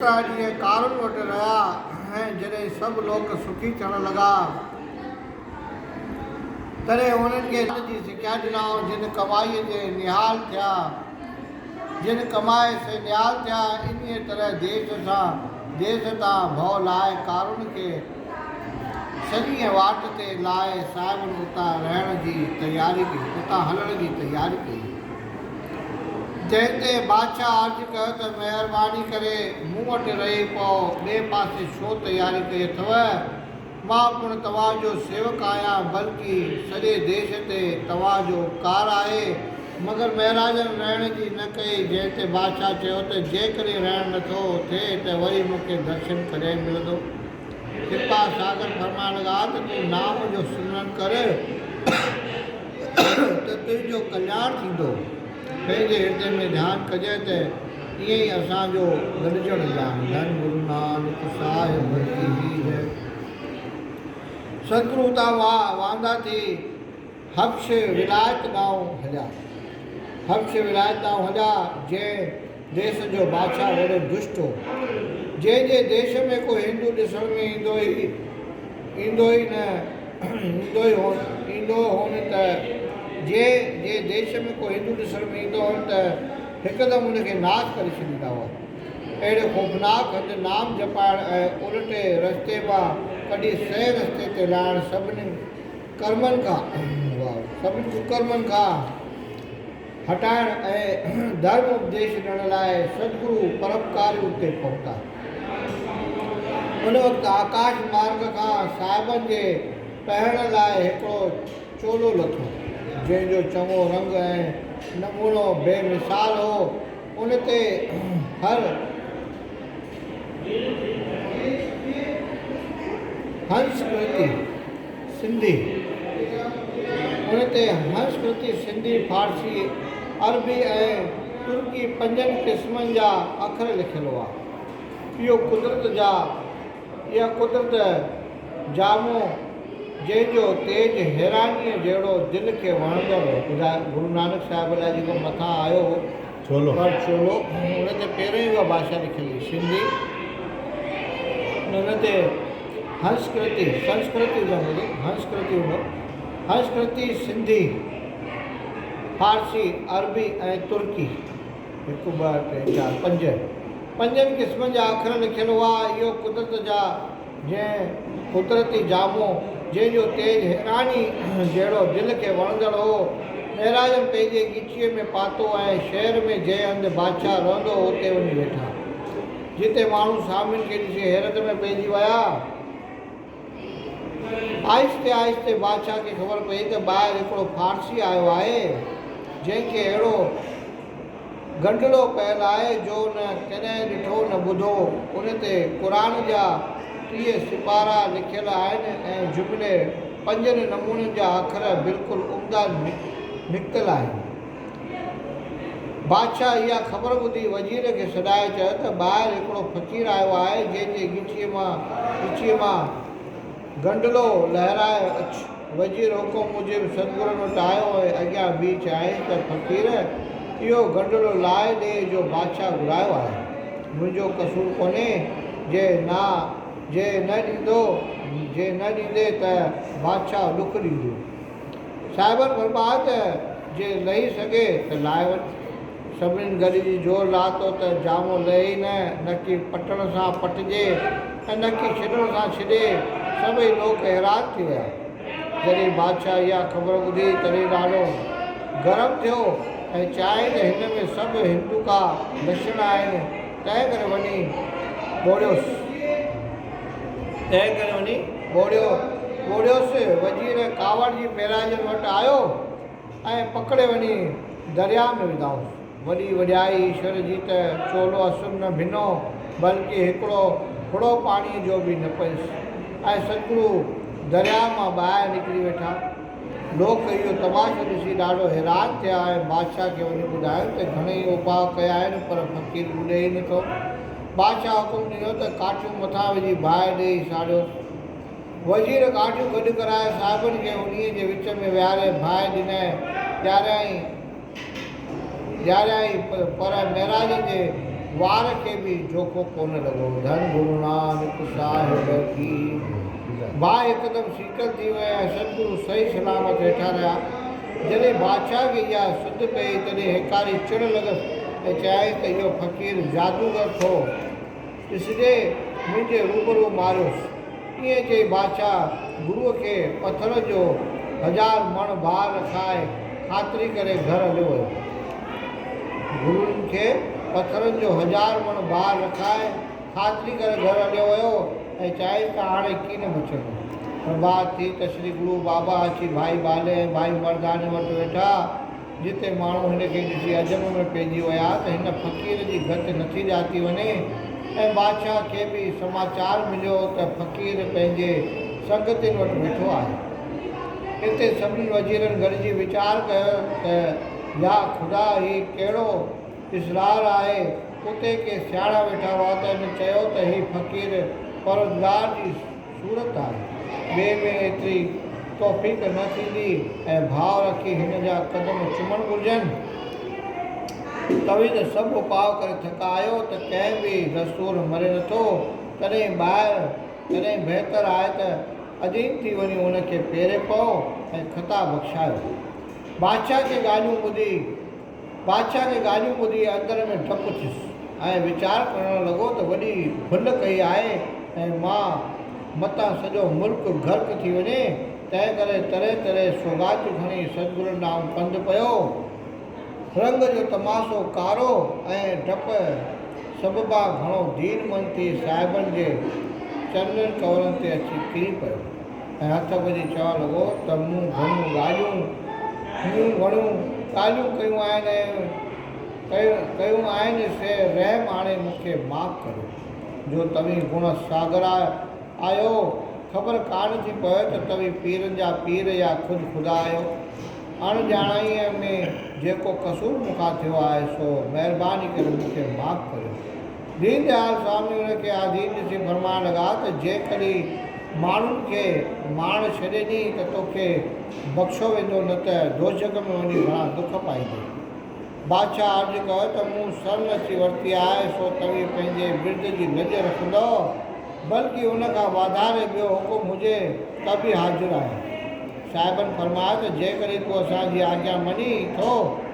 ڪتا جيئن ڪارن وٽ رهيا ۽ جڏهن سڀ لوڪ سکي ٿيڻ لڳا، تڏهن انهن کي ان جي سکيا ڏنائون جن ڪمائيء جي نهال ٿيا. جن ڪمائي سي نهال ٿيا. انهيء طرح ديس سان ديس تان ڀؤ لاهي ڪارن کي سڃيء واٽ تي لاهي صاحبن اتان رهڻ جي تياري ڪئي، اتان هلڻ جي تياري ڪئي. جنهن تي بادشاهه عرض ڪيو ته مهرباني ڪري مون وٽ رهي پئو، ٻئي پاسي ڇو تياري ڪئي اٿو؟ مان پڻ توهان جو سيوڪ آهيان، بلڪ سڄي ديش تي توهان جو اپڪار آهي. مگر مهراجن رهڻ جي نه ڪئي، جنهن تي بادشاهه چيو ته جيڪڏهن رهڻ نه ٿو ٿئي ته وري مون کي درشن ڪڏهن ملندو؟ ڪرپا ساگر فرمائڻ لڳا ته تون نام جو سمرن ڪر. ته تنهنجو ڪلياڻ ٿيندو. پنهنجي هردي ۾ ڌيان ڪجئه ته ائين ئي اسان جو گڏجڻ ايام ڌن گرو نانڪ صاحب جي هي جئه. ستگرو اتان واندا ٿي حبش ولايت ڏانهن هليا. حبش ولايت ڏانهن هليا جنهن ديس جو بادشاهه وڏو دشٽ هو، جنهن جي ديس ۾ ڪو هندو ڏسڻ ۾ ايندو ئي ايندو ئي نه ايندو ئي هون ايندو هون ته جي جي ديس ۾ ڪو هندو ڏسڻ ۾ ايندو هون ته هڪدم ان کي ناس ڪري ڇڏيندا هئا. اهڙي خوفناڪ هنڌ نام جپائڻ ۽ الٽي رستي مان ڪڍي صحيح رستي تي لاهڻ سڀني ڪرمن کان سڀني ڪڪرمن کان هٽائڻ ۽ ڌرم اپديش ڏيڻ لاء سدگرو پرپڪارين تي پهتا. ان وقت آڪاش مارگ کان صاحبن جي پهرڻ لاء هڪڙو چولو لٿو، جنهن جو چڱو رنگ ۽ نمونو بي مثال هو. ان تي هر هنس پرتي سنڌي، ان تي هنس پرتي سنڌي، فارسي، عربي ۽ ترڪي پنجن قسمن جا اکر لکيل هئا. اهو قدرت جا. اها قدرت جامو جنهن جو تيج حيرانيء جهڙو دل کي وڻندڙ هو. ٻڌايو گرو نانڪ صاحب لاء جيڪو مٿان آيو هو پر ڇولو ان تي پهريون ئي اها ڀاشا لکيل هئي سنڌي ۽ ان تي هنس ڪرتي سنسڪرت ازم هجي هنس ڪرتي هوندو هنس ڪرتي سنڌي فارسي عربي ۽ ترڪي هڪ، ٻه، ٽي، چار، پنج، پنجن قسمن جا اکر لکيل هئا. اهو قدرت جا جنهن قدرتي جامو، جنهن جو تيج هيراڻي جهڙو دل کي وڻندڙ هو، مهراجن پنهنجي ڳچيء ۾ پاتو ۽ شهر ۾ جنهن هنڌ بادشاهه رهندو هو، اتي وڃي ويٺا، جتي ماڻهو سامين کي ڏسي حيرت ۾ پئجي ويا. آهستي آهستي بادشاهه کي خبر پئي ته ٻاهر هڪڙو فارسي آيو آهي، جنهن کي اهڙو گنڊلو پيل آهي، جو نه ڪڏهن ڏٺو نه ٻڌو. ان تي قرآن جا ٽيهه سپارا لکيل آهن ۽ جملي پنجن نمونن جا اکر بلڪل عمدا نڪتل آهن. بادشاهه اها خبر ٻڌي وزير کي سڏائي چيو ته ٻاهر هڪڙو فقير آيو آهي جنهن جي ڳچيء مان ڳچيء مان گنڊلو لهرائي اچ. وزير حڪم موجب سدگرن وٽ آيو ۽ اڳيان بيهي چيائين ته فقير اهو گنڊلو لاهي ڏي جو بادشاهه گهرايو آهي. منهنجو قصور ڪونهي جي نا جي نه ڏيندو جي نه ڏيندي ته بادشاهه ڏک ڏيندو. صاحبن فرمايو ته جي لهي سگهي ته لاهي وڃ. سڀنين گڏجي زور لاٿو ته جامو لهي ئي نه، نڪي پٽڻ سان پٽجي ۽ نڪي ڇڏڻ سان ڇڏي. سڀئي لوڪ حيران ٿي ويا. جڏهن بادشاهه اها خبر ٻڌي تڏهن ڏاڍو گرم ٿيو ۽ چيائين ته هن ۾ سڀ هندوڪا لڇڻ آهن، تنهنڪري وڃي ٻوڙيوس. تنهنڪري وڃي ٻوڙيو ٻوڙيوس وزير ڪاوڙ جي پيراجن وٽ آيو ۽ پڪڙي وڃي درياء ۾ وڌائوس. وڏي وڏيائي ايشور جي ته چولو اسر نه ڀنو بلڪه هڪڙو ڦڙو پاڻيء جو به نه پيس ۽ ستگرو درياء مان ٻاهر نڪري ويٺا. لوڪ اهو تماشو ڏسي ڏاڍو حيران ٿيا ۽ بادشاهه کي وڃي ٻڌايو ته گهڻئي اوپاء ڪيا آهن پر فقير ٻڏي ئي نٿو. بادشاهه حڪم ڏنو ته ڪاٺيون مٿان وجهي باهه ڏيئي ساڙيوس. وزير ڳاڍيون گڏ ڪرائي صاحبن کي انهيء جي وچ ۾ ويهاري باهه ڏنائين، ڏياريائين. ڏياريائين پر معراج جي وار کي به جوکو ڪونه لڳو. ڌڻ گرونانڪ صاحب جي باهه هڪدم سيڪل ٿي وئي ۽ ستگرو صحيح سلامت ويٺا رهيا. جڏهن بادشاهه کي اها سڌ پيئي تڏهن هيڪاري چڙ لڳس ۽ چيائين ته اهو فقير جادوگر ٿو. ڏسجي منهنجي روبرو ماريوس. ائين چئي بادشاهه گرو کي پٿرن جو هزار مڻ بار رکائي خاطري ڪري گهر هليو ويو. گرون کي پٿرن جو هزار مڻ بار رکائي خاطري ڪري گهر هليو ويو ۽ چيائين ته هاڻي ڪي نه بچندو. پرڀات ٿي ته شري گرو بابا اچي ڀائي بالي ۽ ڀائي مرداني وٽ ويٺا. جتي ماڻهو هن کي ڏسي عجب ۾ پئجي ويا ته هن فقير جي گت نٿي ڄاتي وڃي ۽ بادشاهه کي به سماچار مليو ته فقير پنهنجي سنگتين وٽ ويٺو آهي. اتي سڀني وزيرن گڏجي ويچار ڪيو ته يا خدا هي ڪهڙو اسرار آهي. اتي ڪي سياڻا ويٺا هئا ته هن چيو ته هي فقير پروردگار جي. صورت آهي. ٻئي ۾ ايتري توفيق نه ٿيندي ۽ ڀاء رکي هن جا قدم چمڻ گهرجن. توهين ته سڀ اپاء ڪري ٿڪا آهيو ته ڪنهن به دستور مري نٿو. تڏهن ٻاهر تڏهن بهتر آهي ته اديم ٿي وڃو ان کي پيري پئو ۽ خطا بخشايو. بادشاهه جي ڳالهيون ٻڌي. بادشاهه جي ڳالهيون ٻڌي اندر ۾ ڊپ ٿيس ۽ ويچار ڪرڻ لڳو ته وڏي ڀل ڪئي آهي ۽ مان متان سڄو ملڪ غرق ٿي وڃي، تنهن ڪري تري تري سوغاتيون کڻي سدگرن ڏانهن پنڌ پيو. رنگ جو تماشو ڪارو ۽ ڊپ سببان گهڻو دين مند ٿي صاحبن جي چرنن ڪنورن تي اچي ڪري پيو. ۽ هٿ ڀري چوڻ لڳو ته مون گهڻيون ڳالهيون مون گهڻيون ڳالهيون ڪيون آهن ۽ ڪيون آهن سي رحم آڻي مون کي معاف ڪريو جو توهين گڻ ساگر آهيو خبر ڪانه ٿي پوي ته توهين پيرن جا پير يا خود خدا آهيو اڻ ڄاڻائيء ۾ جيڪو قصور مون کان ٿيو آهي سو مهرباني ڪري مون کي معاف ڪريو. دين ديال سوامي ان کي آڌين ڏسي فرمائڻ لڳا ته جيڪڏهن ماڻهن کي مارڻ ڇڏي ڏئين ته توکي بخشيو ويندو نه ته دوزخ ۾ وڃي گهڻا دک پائيندين. بادشاهه عرض ڪيو ته مون سرمستي ورتي آهي سو توهين پنهنجي ورد جي لڄ رکندؤ بلڪ ان کان واڌاري ٻيو حڪم هجي ته به حاضر آهيان. صاحبن فرمايو ته جيڪڏهن تون اسان جي آجيا مڃين ٿو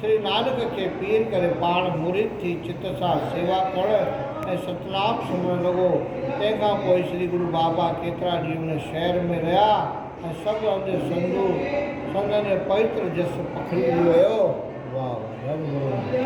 سري نانڪ کي پير ڪري پاڻ مريد ٿي چت سان سيوا ڪرڻ ۽ ستنام سمرڻ لڳو. تنهن کان پوء سري گرو بابا ڪيترا ڏينهن ان شهر ۾ رهيا ۽ سڀ هنڌ سنڌو سندن جو پوتر جس پکڙجي ويو. واهه واهه رب گرون جي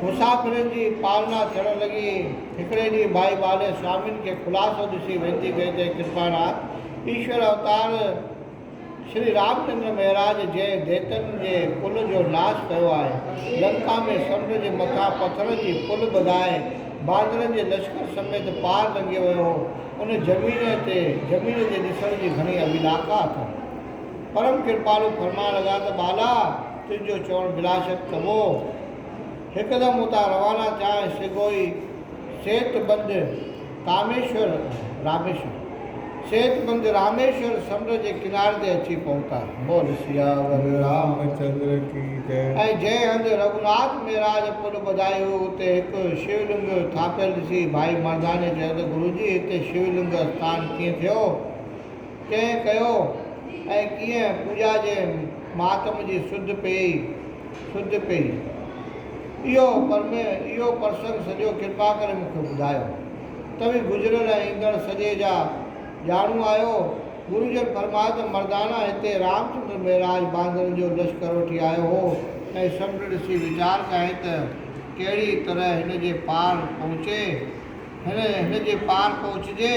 مسافرن جي پالنا ٿيڻ لڳي. هڪڙي ڏينهن ڀائي ٻالي سوامين کي خلاصو ڏسي وينتي ڪئي ته هي ڪرپاڻا ايشور اوتار شري رام چندر مهراج جنهن ديتن جي پل جو ناس ڪيو آهي، لنڪا ۾ سمنڊ جي مٿان پٿرن جي پل ٻڌائي باندرن جي لشڪر سميت پار لنگهي ويو هو، ان زمين تي زمين جي ڏسڻ جي گهڻي اڀيلاکا اٿم. پرم ڪرپالو فرمان لڳا ته ٻالا! تنهنجو چوڻ بلاشڪ ڪبو. هڪدم اتان روانا ٿيا ۽ سگهوئي سيت بند، ڪاميشور، راميشور، سيد ڪنڌ راميشور سمنڊ جي ڪناري تي اچي پهتا. بول سياور رام چندر ڪي جئه. ۽ جنهن هنڌ رگهوناٿ مهراج پل ٻڌائي هئي اتي هڪ شيو لنگ ٿاڦيل ڏسي ڀائي مرداني چيو ته گرو جي هتي شيو لنگ اسٿان ڪيئن ٿيو؟ ڪنهن ڪيو؟ ۽ ڪيئن پوڄا جي مهاتم جي سڌ پيئي؟ سج ڪئي اهو پر ۾ اهو پرسنگ سڄو ڪرپا ڪري مون کي ٻڌايو توهين گذريل ۽ ايندڙ سڄي جا ڄاڻو آهيو گرو جن فرمايو ته مردانا هتي رامچندر مهراج باندرن جو لشڪر وٺي آيو هو ۽ سمنڊ ڏسي ويچار ڪيائين ته ڪهڙي طرح هن جي پار پهچي هن هن جي پار پهچجي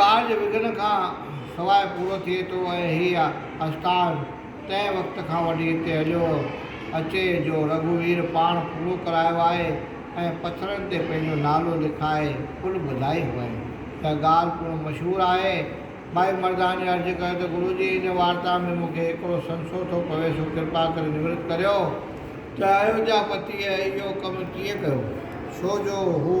ڪارج وگهن کان سواء پورو ٿئي ٿو ۽ هيء آستان تنهن وقت کان وٺي هتي هليو اچي جو رگهوير پاڻ پورو ڪرايو آهي ۽ پٿرن تي پنهنجو نالو لکائي پل ٻڌائي هئائين. اها ڳالهه پڻ مشهور آهي. ٻائي مرداڻي عرض ڪيو ته گرو جي هن وارتا ۾ مون کي هڪڙو سنسو ٿو پوي سو ڪرپا ڪري نورت ڪريو ته ايوڌيا پتيء اهو ڪم ڪيئن ڪيو؟ ڇو جو هو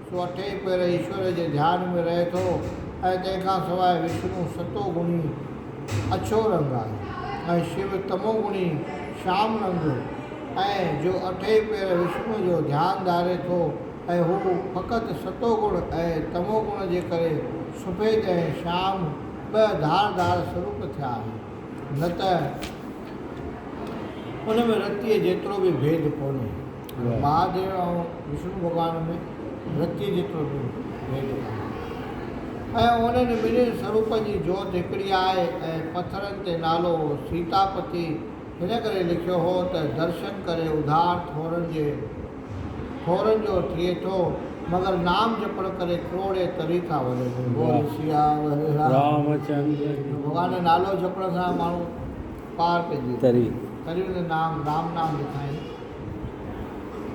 سو اٺين پهر ايشور جي ڌيان ۾ رهي ٿو ۽ تنهن کان سواء وشنو ستو گڻي اڇو رنگ آهي ۽ شو تمو گڻي شام رنگ جو ۽ جو اٺين پهر وشنو جو ڌيان ڌاري ٿو ۽ هو فقط ستو گڻ ۽ تمو گڻ جي ڪري سفيد ۽ شام ٻه ڌار ڌار سروپ ٿيا آهن نه ته ان ۾ رتيء جيترو به ڀيد ڪونهي. مهاديو ۽ وشنو ڀڳوان ۾ رتيء جيترو به ڀيد ڪانه آهي ۽ انهن ٻنهي سروپن جي جوت هڪڙي آهي ۽ پٿرن تي نالو سيتاپتي هن ڪري لکيو هو ته درشن ڪري اڌار ٿورن جي ٿورن جو ٿئي ٿو مگر نام جپڻ ڪري ڪروڙين تري ٿا وڃن بول سيا ول رام چندر جي ڀڳوان جو نالو جپڻ سان ماڻهو پار پئجي ٿو تري نام رام نام لکائين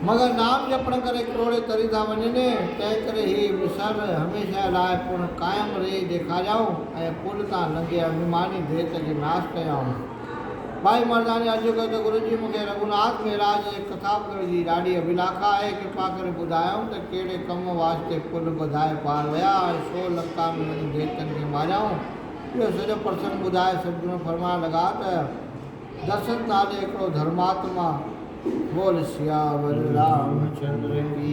مگر نام جپڻ ڪري ڪروڙي تري ٿا وڃن، تنهن ڪري هي وسر هميشه لاء پڻ قائم رهي ڏيکاريائون ۽ پل تان لنگهي اڀيماني ڀيت کي ناس ڪيائون. ٻائي مرداني عرض ڪيو ته گرو جي مون کي رگهوناٿ مهراج جي ڪٿابڪڙ جي ڏاڍي اڀلاکا آهي، ڪرپا ڪري ٻڌايائون ته ڪهڙي ڪم واسطي پل ٻڌائي پار ويا ۽ ڇو لنڪا ۾ وڃي ديوتن کي ماريائون. اهو سڄو پرسنگ ٻڌائي سدگرو فرمائڻ لڳا ته. درشن ڪانه هڪڙو ڌرماتما بول سياور رام چندر ڪي.